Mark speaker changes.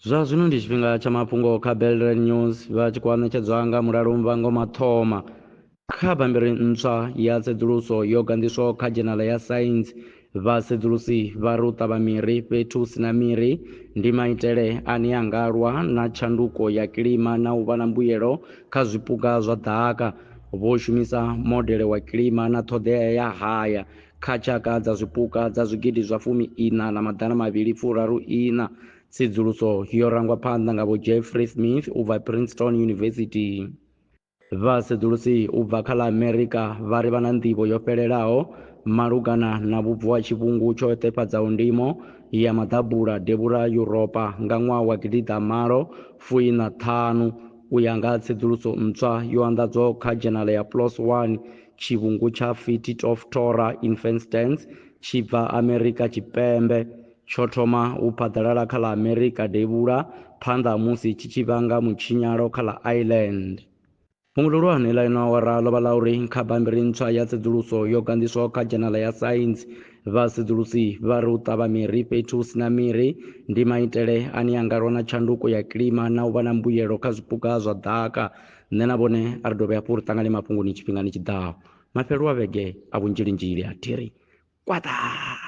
Speaker 1: zwa zwino ndi tshifhinga tsha mafhungo kha belrad news vha tshi khou anetshedzwa nga mulalumbango mathoma kha bammbiri ntswa ya tsedzuluso yo ganḓiswaho kha dzhenala ya saintsi vhasedzulusi vha ri u ṱavha miri fhethu hu si na miri ndi maitele ane a nga lwa na tshanduko ya kilima na u vha na mbuyelo kha zwipuka zwa ḓaka vho shumisa modele wa kilima na ṱhoḓea ya haya kha tshaka dza zwipuka dza zwigidi zwa fumi ina na maḓana mavhili furaru ina. Tsedzuluso yo rangwa phanḓa nga vho Jeffrey Smith u bva Princeton University. Vhasedzulusi u bva kha ḽa Amerika vha ri vha na nḓivho yo fhelelaho malugana na vhubvo ha tshivhungu tsho ṱefhadzaho ndimo ya maḓabula devhula Yuropa nga ṅwaha wa gidi ḓa malo fuina ṱhanu. U ya nga ha tsedzuluso ntswa yo anḓadzwaho kha dzhenala ya PLOS One, tshivhungu tsha Fittit of Torah in Fenstands tshi bva Amerika Tshipembe. Tsho thoma u phaḓalala kha ḽa Amerika Devhula phanḓa ha musi tshi tshi vhanga mutshinyalo kha ḽa Ireland. Fhungo ḽihulwane ḽa ino awara ḽo vha ḽa uri kha bammbiri ntswa ya tsedzuluso yo ganḓiswaho kha dzhenala ya Science, Vhasedzulusi vha ri u ṱavha miri fhethu hu si na miri ndi maitele ane a nga lwa na tshanduko ya kilima na u vha na mbuyelo kha zwipuka zwa ḓaka. Nṋe na vhone a ri dovhe hafhu ri ṱangane mafhungoni tshifhingani tshi ḓaho. Mafhelo a vhege a vhunzhilinzhili a thi ri kwaḓaa!